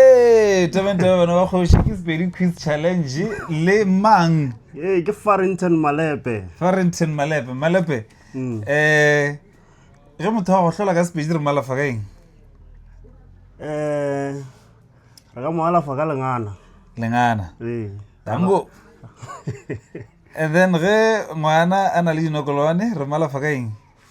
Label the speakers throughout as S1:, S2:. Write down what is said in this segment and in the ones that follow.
S1: Ee, Durban Durban bana ba kgoši ke Sepedi Quiz Challenge le mang? Ee, ke Farrington Malepe. Farrington Malepe, Malepe. Mm. Eh, ge motho wa go hlola ka Sepedi re malafa ka eng? Eh, re ka mo alafa ka lengana. Lengana. Ee. Dango. And then ge ngwana a na le dinokolwane re malafa ka eng?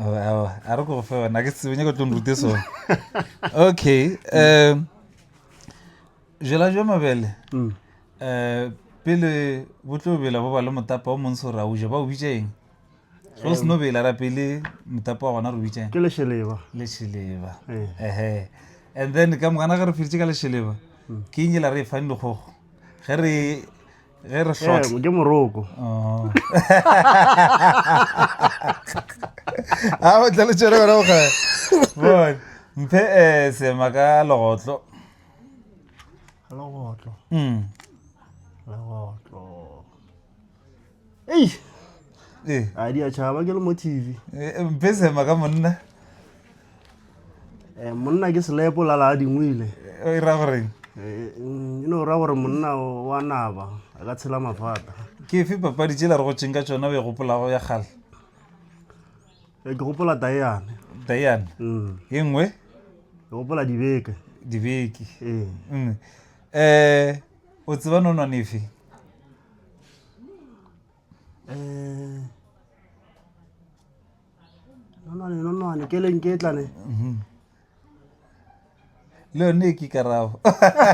S1: Oh, awa, a re ko go fe ona ke tsebe nyako tlo nrute sone okay um jela jwa mabele um pele bo tlo bela bo ba le motapa o montsho ra uja ba o bitša eng ge o se no bela ra pele motapa wa gona re o bitša eng ke lešeleba lešeleba Eh. ehe and then ka mogana ge re feditše ka lešeleba ke eng e la re e fang dikgogo ge re ge re hlotla ke moroko a o tla le tšere wena o kgale bon mphe eh sema ka legotlo legotlo mm legotlo ei eh a di a chaba ke le mo tv eh, eh, mphe sema ka monna Eh, monna ke selepo la la dingwile o e ra goreng Eh, mm, e no ra gore monna o- wa naba a ka tshela mafata ke efe papadi tšela re go tšeng ka tšona o e gopolago ya kgale Eh, ke gopola tayane diane Mm, ye nngwe ke gopola dibeke dibeke ee Mm. eh o tseba nonwane efe Eh, nonwane nonwane ke leng ke tlane mhm. le yone ke karabo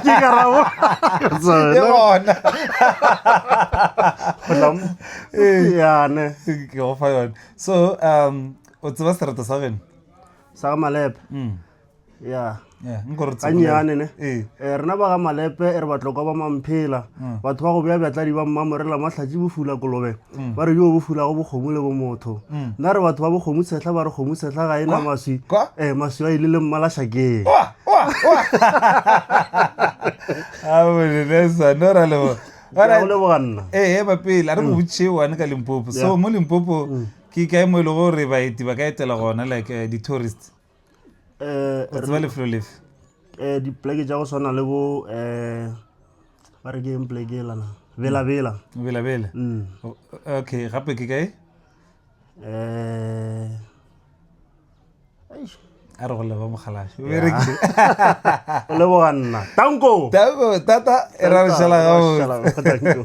S1: ke karabo ke bona yane ke go fa yone so um o tseba sereto sa geno sa ga malepe mm. ya gannyane ne um rena ba ga malepe e re batlokwa ba mamphela mm. batho ba go beya bjatladi ba mmamo re lamatlhatši bofula kolobe mm. ba re yo bofulago bokgomo le bomotho mm. nna re batho ba bokgomo tshehla ba re kgomo tshehla ga e na maswi um maswi a ile le mmalašakeng leboganna ee bapele a re botšhee one ka limpopo so mo limpopo ke kae mo e le gore baeti ba ka etela gona like eh, di-tourist eh, o tseba lefelo lefe eh, dipleke tša go swana le bo eh, ba re ke eng pleke elana bela bela bela bela mm. okay gape ke kae eh, a re go leba mogalaše o berekile o leboga nna tanko tata e ra re šala gago